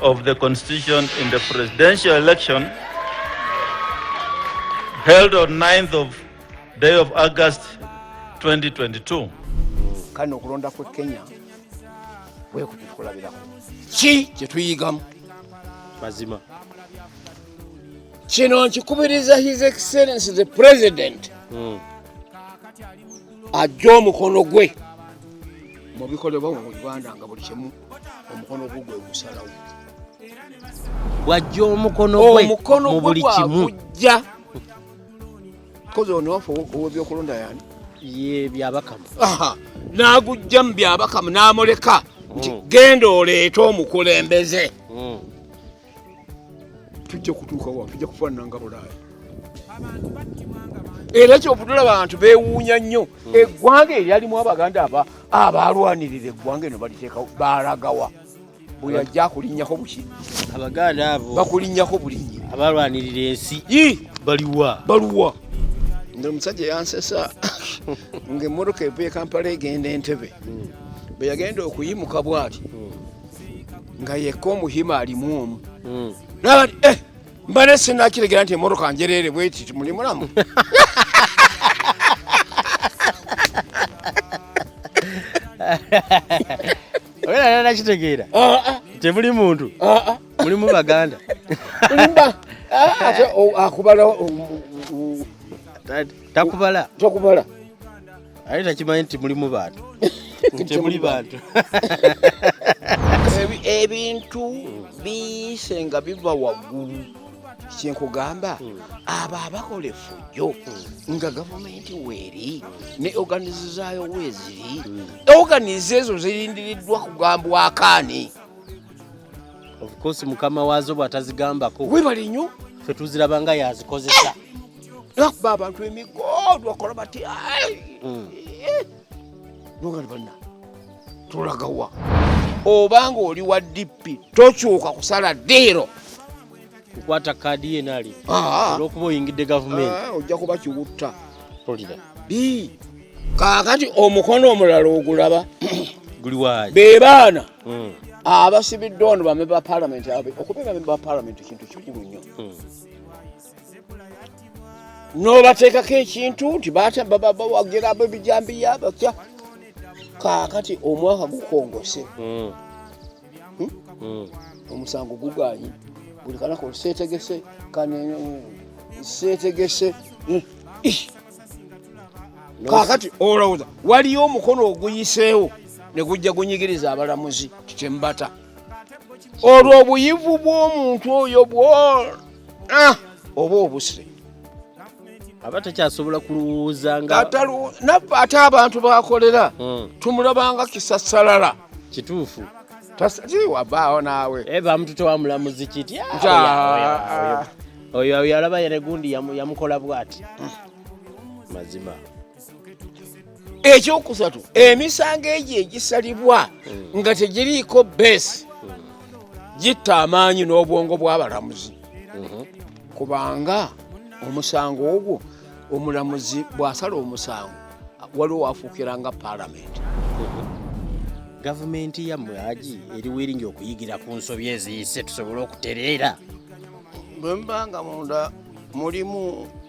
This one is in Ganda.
of the constitution in the presidential election held on 9th of day of August 2022 kano okulonda kwe Kenya kwekutukulabirako ki kyetuyigamu mazima kino nkikubiriza his excellence the president mm. ajja omukono gwe mu bikolebwa mu uganda nga buli kimu omukono gwo gwe gusalawo bwajja omukono gwe mu buli kimu kozi ono wafe owebyokulonda yani ye byabakamu n'agujja mu byabakamu n'amuleka nti mm. genda oleete omukulembeze mm. tujja kutuuka wa tujja kufaanana nga bulaaya era kyovudula bantu bewuunya nnyo hmm. eggwanga eryalimu abaganda aba abaalwanirira eggwanga eno baliteekawo baalagawa bwe yajja akulinnyako buki abaganda abo bakulinnyako bulinyi abaalwanirira ensi baliwa baluwa nga omusajja yansesa ng'emmotoka evuye kampala egenda entebe hmm. bwe yagenda okuyimuka bwati hmm. nga yekka omuhima alimu omu hmm. naba ti eh, mba ne sinakiregera nti emotoka njereere bweti muli mulamu nakitegeera ah, ah. temuli muntu ah, mulimu baganda akubala takubala takubala ate takimanyi nti mulimu bantu temuli bantu ebintu biyise nga biva waggulu kyenkugamba hmm. abo abakola efujjo hmm. nga gavumenti weeri ne oganize zaayo weeziri hmm. oganize ezo zirindiriddwa kugambwakaani ofcourse mukama waazo bw'atazigambako webali nnyo fe tuziraba nga yazikozesa lwakuba abantu emigo lwakola bati hmm. nogani banna tulagawa obanga oli wa dp tokyuka kusala diiro kukwata kaadi yenali ah. olwokuba oyingidde gavumenti ah, ojja kuba kiwutta tolira kakati omukono omulala ogulaba be baana hmm. abasibiddwa ono bamemba ba palamenti okubeera memba ba palamenti kintu kikulu nnyo hmm. n'obateekako ekintu nti bawagira abebijambiya batya kaakati omwaka gukongose hmm. Hmm? Hmm. omusango gugaanyi buli kanako seetegese seetegese kaakati olowooza waliyo omukono oguyiseewo ne gujja gunyigiriza abalamuzi kikyemubata olwo obuyivu bw'omuntu oyo bwona ah, oba obuse aba takyasobola kulowooza naffe ate abantu bakolera hmm. tumulabanga kisasalala kituufu tasaliwabaawo naawe eh, bamututa wamulamuzi kiti ah, oyo yalaba yene gundi yamukola bwati hmm. mazima ekyokusatu emisango egyo egisalibwa nga tegiriiko base gitta amaanyi n'obwongo bw'abalamuzi kubanga omusango ogwo omulamuzi bw'asala omusango waliwo wafuukira nga palamenti gavumenti yammwe agi eri wiringi okuyigira ku nsobi eziyise tusobole okutereera bwe mba nga munda mulimu